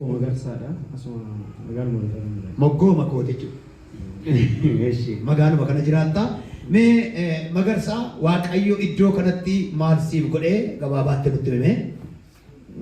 Magarsaadha. Asuma magaaluma irra kan jiraatu. Moggooma kooti jechuudha. Eshi. Magaaluma kana jiraatta. Mee eh, magarsaa Waaqayyo iddoo kanatti maal siif godhee gabaabaatti nutti himee?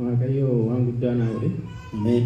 Waaqayyo waan guddaa naa godhe. Ameen.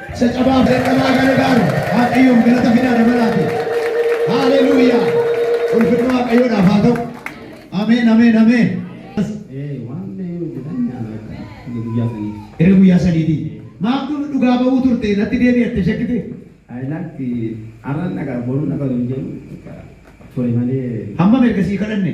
Isa cabaa fi dadhabaa gargaaru Waaqayyoof galata fidaa dabalaati. Haaleluuyaa! Ulfinni Waaqayyoodhaaf haa ta'u. Ameen, ameen, ameen. Ee, waan mee hojjetan nyaata akka inni guyyaa sanii. Erga guyyaa sadiitii. Maamtuu nu dhugaa ba'uu turte natti deebi'atte shakkite. Ayilaatti arran dhagaa boruun dhagaa hin jedhu ture malee. Hammam erga sii kadhanne?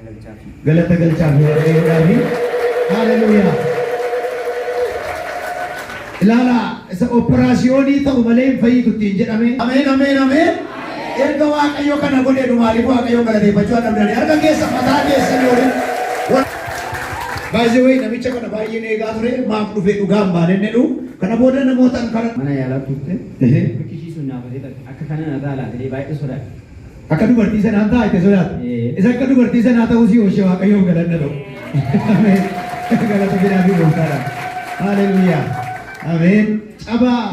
Galata galchaaf Yihowaafi. Haaleluyyaa! Ilaalaa isa operaasiyoonii ta'u malee hin fayyitu ittiin jedhame. Ameen ameen ameen. Erga Waaqayyo kana godhe nu maaliif Waaqayyoon galateeffachuu akka danda'an harka keessa mataa keessan waliin. Baay'ee wayii namicha kana baay'een eegaa ture maaf dhufee dhugaa hin baane jedhu kana booda namootaan kana. Mana yaalaa turte. Ehe. Biqilchii sun naafatee ture. Akka kana narraa laatee baay'ee sodaate. Akka dubartii sanaan ta'a itti sodaata. Isa akka dubartii sanaa ta'uu si oolche Waaqayyoof galanna ta'u. Ameen. Galata fidaa fi gooftaadha. Haleluuyaa. Ameen. Cabaa.